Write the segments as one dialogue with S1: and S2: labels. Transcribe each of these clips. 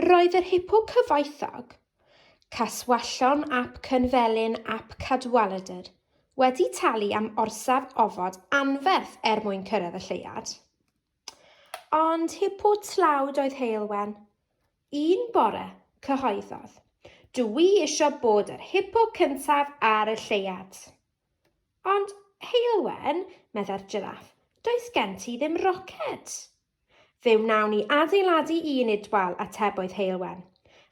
S1: Roedd yr hipo cyfoethog, Caswallon ap Cynfelyn ap Cadwaladr, wedi talu am orsaf ofod anferth er mwyn cyrraedd y lleuad. Ond hipo tlawd oedd Heulwen. Un bore, cyhoeddodd, Dw i eisiau bod yr hipo cyntaf ar y lleuad. Ond, Heulwen, meddai'r jiraff, does gen ti ddim roced. Fe wnawn ni adeiladu un idwal, atebodd Heulwen.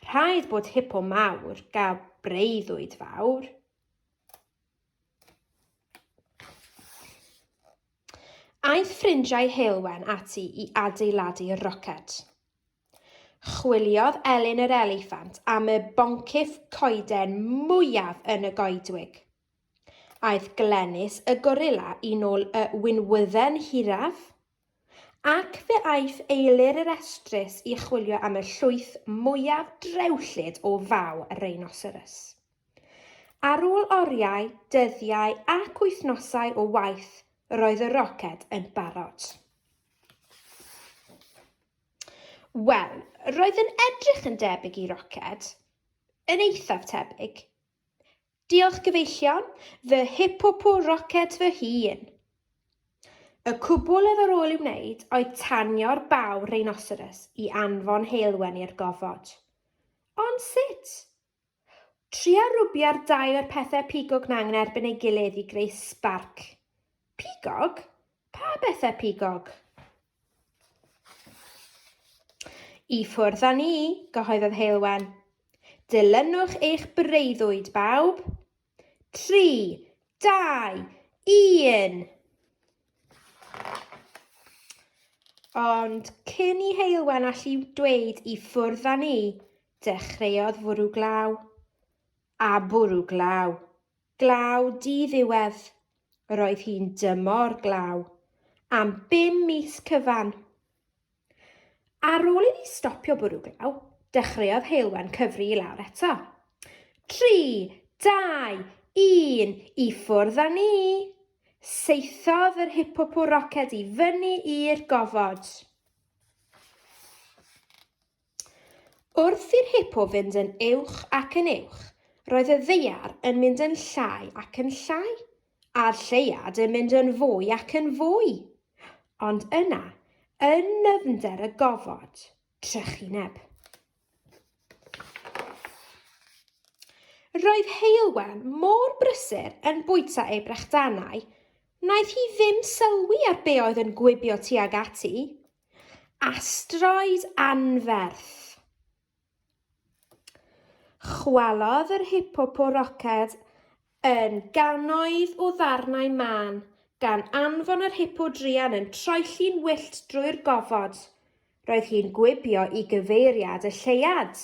S1: Rhaid bod hipo mawr gael breuddwyd fawr. Aeth ffrindiau Heulwen ati i adeiladu roced. Chwiliodd Elin yr eliffant am y boncyff coeden mwyaf yn y goedwig. Aeth Glenys y gorilla i nôl y winwydden hiraf. Ac fe aeth Eilir i'r Estrys i chwilio am y llwyth mwyaf drewllyd o faw rhinoceros. Ar ôl oriau, dyddiau ac wythnosau o waith, roedd y roced yn barod. Wel, roedd yn edrych yn debyg i roced, yn eithaf tebyg. Diolch gyfeillion, fy hipopo roced fy hun! Y cwbl ef ar ôl i'w wneud oedd tanio'r baw rheinoceros i anfon heulwen i'r gofod. Ond sut? Tria rwbio'r dau o'r pethau pigog 'na yn erbyn ei gilydd i greu sbarc. Pigog? Pa bethau pigog? I ffwrdd â ni, gyhoeddodd Heulwen. Dilynwch eich breuddwyd, bawb. Tri, dau, un! Ond cyn i Heulwen allu dweud i ffwrdd â ni, dechreuodd fwrw glaw. A bwrw glaw. Glaw di-ddiwedd. Roedd hi'n dymor glaw am bum mis cyfan. Ar ôl iddi stopio bwrw glaw, dechreuodd Heulwen cyfri i lawr eto. Tri, dau, un, i ffwrdd â ni! Saethodd yr hipopô roced i fyny i'r gofod. Wrth i'r hipo fynd yn uwch ac yn uwch, roedd y ddaear yn mynd yn llai ac yn llai, a'r lleuad yn mynd yn fwy ac yn fwy. Ond yna, yn nyfnder y gofod, trychineb. Roedd Heulwen mor brysur yn bwyta ei brechdanau, wnaeth hi ddim sylwi ar be oedd yn gwibio tuag ati. Asteroid anferth. Chwalodd yr Hipopo roced yn gannoedd o ddarnau mân, gan anfon yr hipo druan yn troelli'n wyllt drwy'r gofod. Roedd hi'n gwibio i gyfeiriad y lleuad.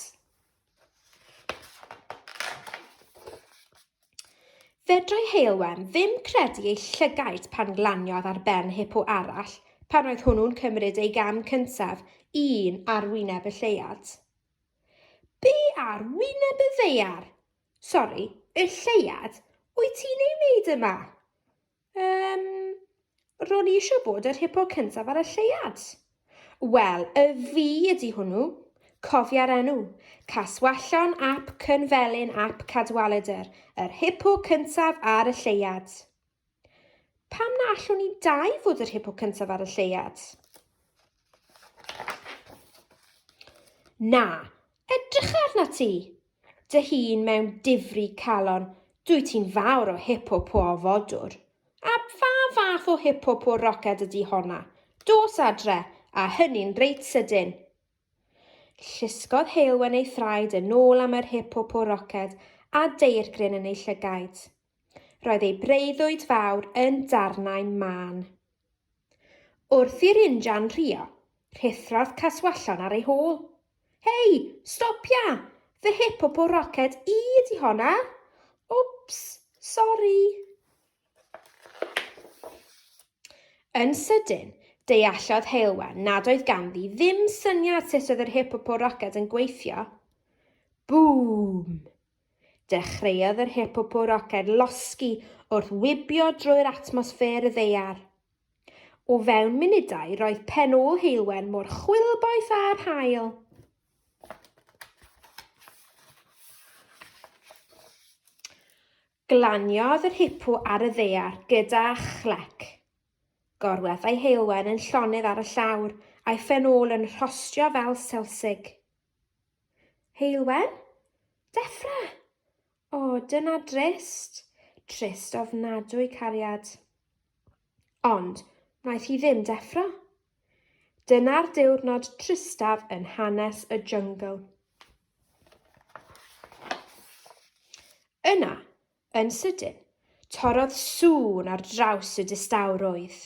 S1: Fedrai Heulwen ddim credu ei llygaid pan glaniodd ar ben hipo arall pan oedd hwnnw'n cymryd ei gam cyntaf, un ar wyneb y lleuad. Be ar wyneb y ddaear? Sori, y lleuad? Wyt ti'n ei wneud yma? Yym, ro'n i eisiau bod yr hipo cyntaf ar y lleuad. Wel, y fi ydi hwnnw. Cofia'r enw. Caswallon ap Cynfelyn ap Cadwaladr, yr hipo cyntaf ar y lleuad. Pam na allwn ni dau fod yr hipo cyntaf ar y lleuad? Na, edrych arna ti. Dy hun mewn difri calon, dwyt ti'n fawr o hip-hopo o fodwr. A pha fath o hip-hopo roced ydy honna? Dos adre, a hynny'n reit sydyn! Llusgodd Heulwen ei thraed yn ôl am yr hip-hopo roced a deirgryn yn ei llygaid. Roedd ei breuddwyd fawr yn darnau mân. Wrth i'r injan rhuo, rhuthrodd Caswallon ar ei hôl. Hei, stopia! Fy hip o po roced i ydi honna! Wps, sori! Yn sydyn, deallodd Heulwen nad oedd ganddi ddim syniad sut oedd yr hip o po roced yn gweithio. Bŵm! Dechreuodd yr Hippopo Roced losgi wrth wibio drwy'r atmosffer y ddaear. O fewn munudau roedd pen ôl Heulwen mor chwilboeth â'r haul. Glaniodd yr hippo ar y ddaear gyda chlec. Gorweddai Heulwen yn llonydd ar y llawr, a'i phen ôl yn rhostio fel selsig. Heulwen? Deffra! O, dyna drist. Trist ofnadwy, cariad. Ond, wnaeth hi ddim deffro. Dyna'r diwrnod tristaf yn hanes y jungle. Yna, yn sydyn, torodd sŵn ar draws y distawrwydd.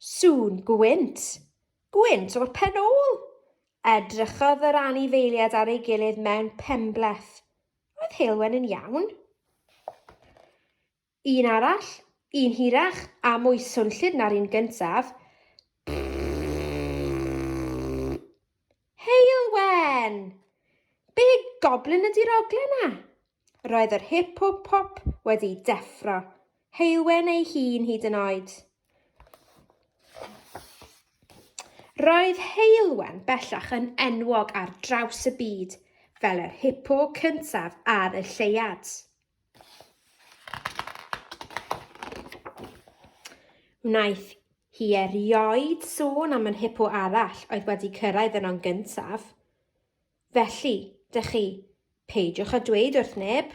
S1: Sŵn gwynt! Gwynt o'r pen ôl! Edrychodd yr anifeiliaid ar ei gilydd mewn penbleth. Oedd Heulwen yn iawn? Un arall, un hirach a mwy swnllyd na'r un gyntaf. Heulwen! Be goblin ydy'r oglen 'na? Roedd yr hip-hop wedi deffro. Heulwen ei hun hyd yn oed. Roedd Heulwen bellach yn enwog ar draws y byd fel yr hipo cyntaf ar y lleuad. Wnaeth hi erioed sôn am yr hipo arall oedd wedi cyrraedd yno'n gyntaf. Felly, dych chi, peidiwch â dweud wrth neb.